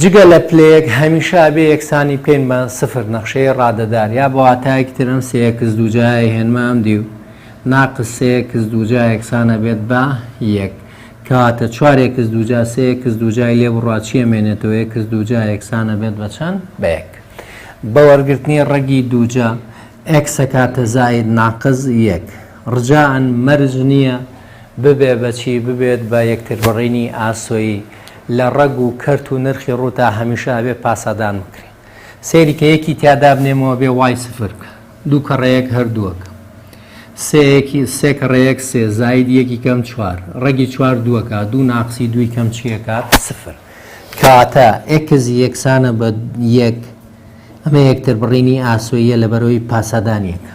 S1: جگە لە پلەیەک هەمیشە ئەبێ یەکسانی بکەین بە سفر نەخشەی ڕادەدار یا بە واتایەکی تر ئەم سێ ئێکس دووجایە ئەیهێنمە ئەم دیو ناقس سێ ئێکس دووجا یەکسان ئەبێت بە یەک کەواتە چوار ئێکس دووجا سێ ئێکس دووجای لێ بڕا چی ئەمێنێتەوە ئێکس دووجا یەکسان ئەبێت بە چەند بە یەک بە وەرگرتنی ڕەگی دووجا ئێکس ئەکاتە زاید ناقس یەک رجائەن مەرج نییە ببێ بە چی ببێت بە یەکتربڕینی ئاسۆیی لە ڕەگ و کەرت و نرخی ڕوو تا هەمیشە ئەبێ پاسادان بکرێ سەیری کە یەکی تیا دابنێمەوە بێ وای سفر بکە دوو کەڕە یەک هەر دووەکە سێ یەکی سێ کەڕە یەک سێ زاید یەکی کەم چوار ڕەگی چوار دووەکە دوو ناقسی دووی کەم چیەکات سفر کاتە ئێکز یەکسانە بە یەک ئەمە یەکتربڕینی ئاسۆییە لە بەرەوەی پاسادانیەکە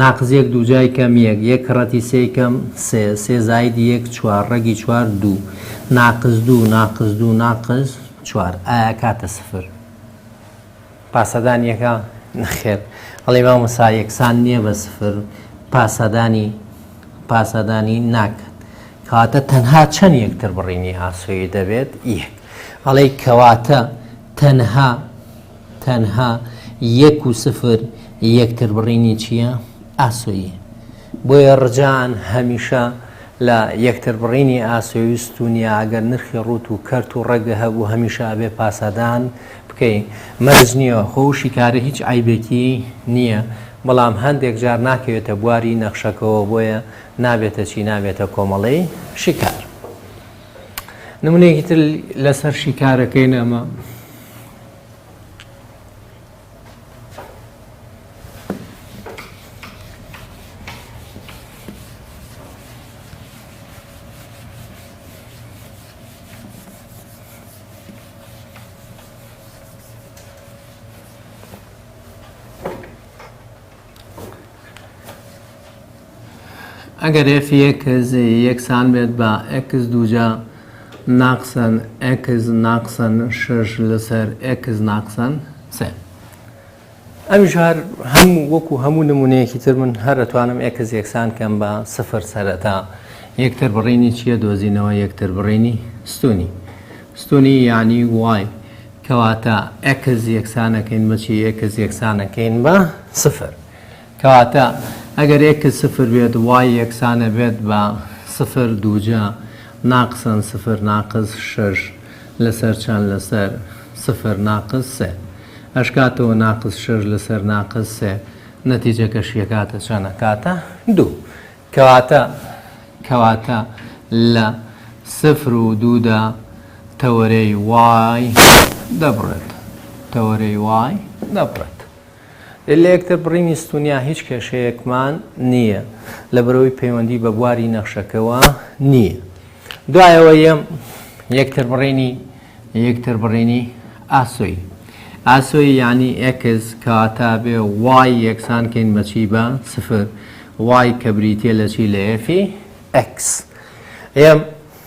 S1: ناقس یەک دووجای کەم یەک یەک کڕەتی سێی کەم سێ سێ زاید یەک چوار ڕەگی چوار دوو ناقس دوو ناقس دوو ناقس چوار ئایا کاتە سفر پاسەدان یەکە نەخێر ئەڵێ مامۆسا یەکسان نییە بە سفر پاسەدانی پاسەدانی ناکە کەواتە تەنها چەند یەکتر بڕینی ئاسۆیی دەبێت یەک ئەڵێ کەواتە تەنها تەنها یەک و سفر یەکتر بڕینی چییە؟ ئاسۆیی. بۆیە ڕجان هەمیشە لە یەکتر بڕینی ئاسۆیی و ستونیە ئەگەر نرخی ڕوت و کەرت و ڕەگ هەبوو هەمیشە ئەبێ پاسادان بکەی مەرج نییە خۆ شیکاری هیچ عەیبێکی نییە بەڵام هەندێک جار ناکەوێتە بواری نەخشەکەوە بۆیە نابێتە چی نابێتە کۆمەڵەی شیکار. نمونەیەکی تر لەسەر شیکارەکەی نامە ئەگەر ئێف یەک یەکسان بێت بە ئێکس دووجا ناقسەن ئێکس ناقسەن شەش لەسەر ئێکس ناقسەن سێ ئەویش هەر هەموو وەکو هەموو نمونەیەکی تر من هەر ئەتوانم ئێکس یەکسان کەم بە سفر سەرەتا یەکتر بڕینی چییە دۆزینەوە یەکتر بڕینی ستونی ستونی یعنی وای کەواتە ئێکس یەکسانەکەین بەچی ئێکس یەکسانەکەین بە سفر کەواتە ئەگەر ئێکس سفر بێت وای یەکسانە بێت بە سفر دووجا ناقسەن سفر ناقس شەش لەسەر چەند لەسەر سفر ناقس سێ ئەشکاتەوە ناقس شەش لەسەر ناقس سێ نەتیجەکەشی ئەکاتە چەند ئەکاتە دوو کەواتە کەواتە لە سفر و دوودا تەوەرەی وای دەبڕێت تەوەرەی وای دەبڕێت لە یەکتر بڕینی ستونیا هیچ کێشەیەکمان نییە لەبەرئەوەی پەیوەندی بە بواری نەخشەکەوە نییە دوای ئەوەی یەم یەکتر بڕینی یەکتر بڕینی ئاسۆی ئاسۆی یانی ئێکس کەواتە بێ وای یەکسان کەین بەچی بە سفر وای کە بریتە لە چی لە ئێفی ئەکس ئێم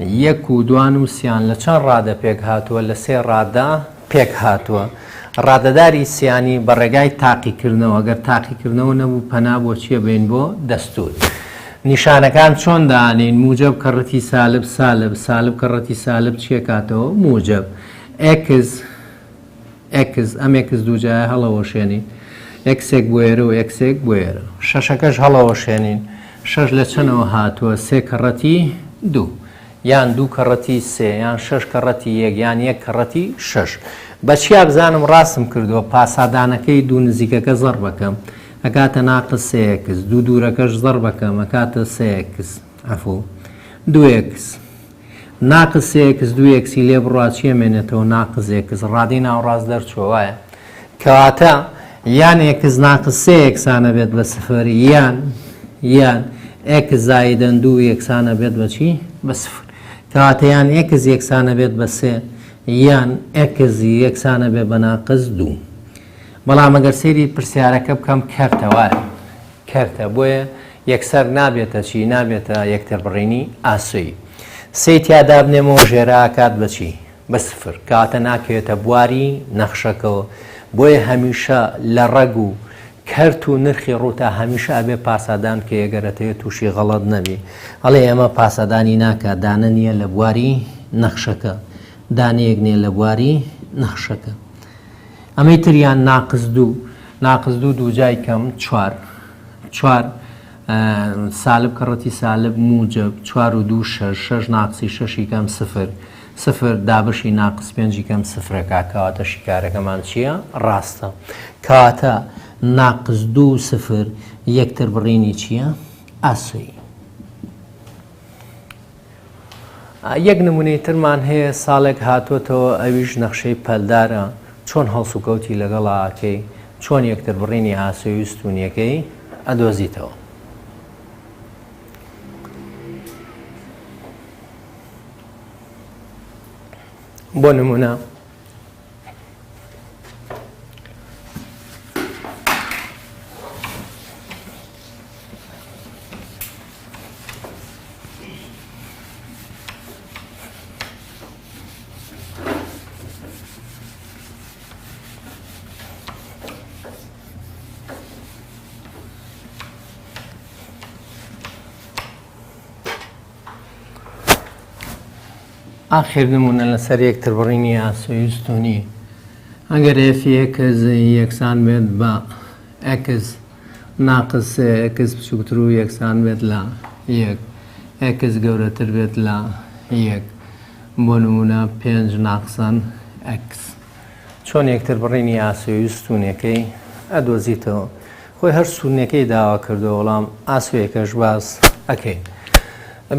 S1: یەک و دوان و سیان لە چەند ڕادە پێک هاتووە؟ لە سێ ڕادە پێک هاتووە. ڕادەداری سیانی بە ڕێگای تاقیکردنەوە، گەر تاقیکردنەوە نەبوو پەنا بۆ چییە بەین؟ بۆ دەستوور. نیشانەکان چۆن دانێین؟ موجەب کەڕەتی سالب سالب، سالب کەڕەتی سالب چییەکاتەوە؟ موجەب. ئێکس ئێکس، ئەم ئێکس دووجایە هەڵەوەشێنین، ئێکسێک بوێرە و ئێکسێک بوێرە. شەشەکەش هەڵەوەشێنین، شەش لە چەنەوە هاتووە، سێ کەڕەتی دوو، یان دوو کەڕەتی سێ، یان شەش کەڕەتی یەک، یان یەک کەڕەتی شەش. بە چیا بزانم ڕاستم کردووە؟ پاسادانەکەی دوو نزیکەکە زەڕب ئەکەم، ئەکاتە ناقس سێ ئێکس، دوو دوورەکەش زەڕب ئەکەم، ئەکاتە سێ ئێکس، عەفو، دوو ئێکس. ناقس سێ ئێکس دوو ئێکسی لێ بڕا چی ئەمێنێتەوە ناقس ئێکس ڕادەی ناوەڕاست دەرچووە وایە کەواتە یان ئێکس ناقس سێ ئێکسانە بێت بە سفر یان یان ئێکس زایدەن دوو ئێکسانە بێت بە چی بە سفر کەواتە یان ئێکس یەکسانە بێت بە سێ یان ئێکس یەکسانە بێ بە ناقس دوو بەڵام ئەگەر سەیری پرسیارەکە بکەم کەرتەوارە کەرتە بۆیە یەکسەر نابێتە چی نابێتە یەکتربڕینی ئاسۆی سێی تیا دابنێمەوە ژێرە ئاکات بە چی بە سفر کەواتە ناکەوێتە بواری نەخشەکەوە بۆیە هەمیشە لە ڕەگ و کەرت و نرخی ڕووتا هەمیشە ئەبێ پاسادان کە یەگەرەتەوێت تووشی غەڵەت نەبی ئەڵێ ئەمە پاسەدانی ناکە دانە نییە لە بواری نەخشەکە دانەیەک نیە لە بواری نەخشەکە ئەمەی تریان ناقز دوو ناقس دوو دووجای کەم چوار چوار سالب کەڕەتی سالب موجب چوار و دوو شەش شەش ناقسی شەشی کەم سفر سفر دابشی ناقس پێنجی کەم سفرەکە کەواتە شیکارەکەمان چییە ڕاستە کەواتە ناقس دوو سفر یەکتر بڕینی چییە ئاسوی یەک نمونەی ترمان هەیە ساڵێک هاتۆتەوە ئەویش نەخشەی پەلدارە چۆن هەڵسوکەوتی لەگەڵا ئەکەی چۆن یەکتر بڕینی ئاسۆی و ستونیەکەی ئەدۆزیتەوە. بۆ نمونە ئاخر نمونە لەسەر یەکتر بڕینی ئاسۆیستونی ئەگەر ئێفیەکەز یەکسان بێت بە ئەکس ناقس ئێکس بچووکتر و یەکسان بێت لە یەک ئێکس گەورەتر بێت لە یەک بۆ نموونە پێنج ناقسان ئێکس. چۆن یەکتر بڕینی ئاسۆی و ستوونەکەی ئەدۆزیتەوە؟ خۆی هەر ستوونەکەی داوا کردووە وەڵام ئاسۆیەکەش باس ئەکەین.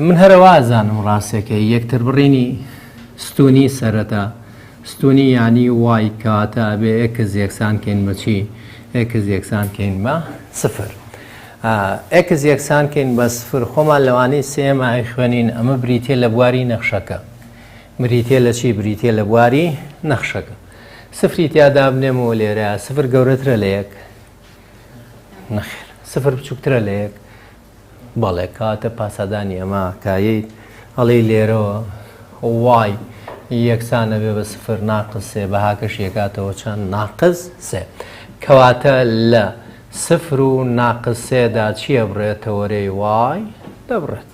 S1: من هەرەوە ئەزانم ڕاستەکەی یەکتر بڕینی ستوونی سەرەتا. ستونی یانی وای کەواتە ئەبێ ئێکس یەکسان کەین بە چی؟ ئێکس یەکسان کەین بە سفر. ئێکس یەکسان کەین بە سفر خۆمان لەوانەی سێیەم ئایخوێنین ئەمە بریتیە لە بواری نەخشەکە. بریتیە لە چی؟ بریتیە لە بواری نەخشەکە. سفری تیا دابنێمەوە لێرە سفر گەورەترە لە یەک؟ نەخێر. سفر بچووکترە لە یەک؟ بەڵێ کەواتە پاسادانی ئەمە کایەی ئەڵێی لێرەوە وای یەکسان ئەبێ بە سفر ناقس سێ بەهاکەش یەکاتەوە چەند ناقس سێ کەواتە لە سفر و ناقس سێدا چیە بڕێتەوەرەی وای دەبڕێت.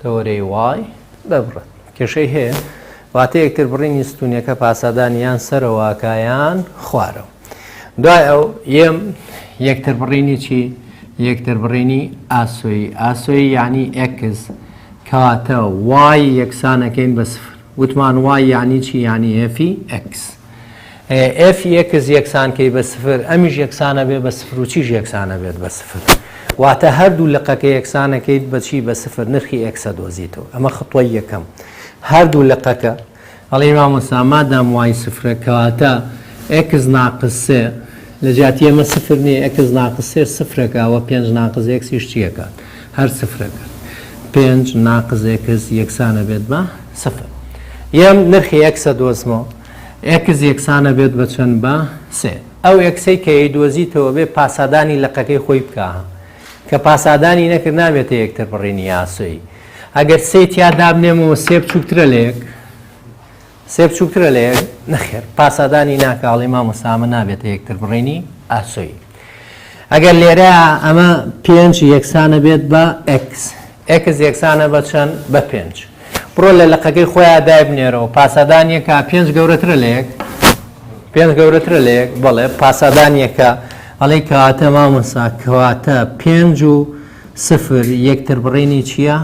S1: تەوەرەی وای دەبڕێت کێشەی هەیە واتە یەکتر بڕینی ستونیەکە پاسادان یان سەرەوەکایان خوارەوە دوای ئەو یەم یەکتر بڕینی چی یەکتر بڕینی ئاسۆی ئاسۆی یعنی ئەکس کەواتە وای یەکسانەکەین بە سفر وتمان وای یعنی چی یعنی ئەفی ئەکس ئێف ی ئێکس یەکسان کەی بە سفر ئەمیش یەکسانە بێ بە سفر و چیش یەکسانە بێت بە سفر واتە هەردوو لقەکە یەکسانەکەیت بەچی بە سفر نرخی ئێکسە دۆزیتەوە ئەمە خطوە یەکەم هەردوو لقەکە هەڵی مامۆستا مادام وای سفرە کەواتە ئێکس ناقسێ لە جیاتی ئەمە سفر نیە ئێکس ناقسێ سفرەکە و پێنج ناقز ئێکسیش چیەکات هەر سفرە گەر پێنج ناقس ئێکس یەکسانە بێت بە سفر یەم نرخی ئێکسە دۆزمەوە ئێکس یەکسانە بێت بە چەند بە سێ ئەو ئێکسەی کە یەیدۆزیتەوە بێ پاسادانی لقەکەی خۆی بکا کە پاسادانی نەکرد نابێتە یەکتر بڕینی یاسۆی ئەگەر سێی تیا دابنێمەوە سێ بچووکترە لە یەک سێ بچووکترە لە یەک؟ نەخێر پاسادانی ناکە هەڵی مامۆستا ئەمە نابێتە یەکتر بڕینی ئاسۆیی ئەگەر لێرە ئەمە پێنج یەکسانە بێت بە ئەکس ئەکس یەکسانە بە چەند بە پێنج بڕۆ لە لەقەکەی خۆیان دایبنێرەوە پاسادانیەکە پێنج گەورەترە لە یەک پێنج گەورەترە لە یەک بەڵێ پاسادانیەکە ئەڵێ کەواتە مامۆسا کەواتە پێنج و سفر یەکتر بڕینی چییە؟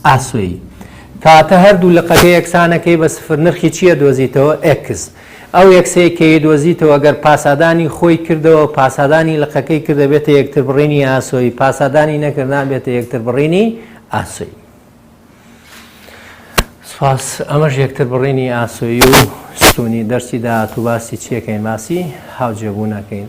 S1: ئاسۆیی کاتە هەردوو لقەکە یەکسانەکەی بە سفر نرخی چی ئەدۆزیتەوە؟ ئێکس ئەو ئێکسەی کە ئیدۆزیتەوە گەر پاسادانی خۆی کردەوە پاسادانی لقەکەی کردە بێتە یەکتر بڕینی ئاسۆیی پاسادانی نەکرد نابێتە یەکتر بڕینی ئاسۆیی سپاس ئەمەش یەکتر بڕینی ئاسۆیی و ستونی دەرسی داهات و باسی چیەکەین باسی هاوجێبوونەکەین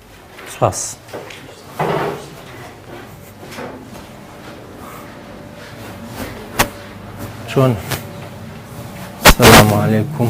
S1: سپاس. چۆن سلام علیکم.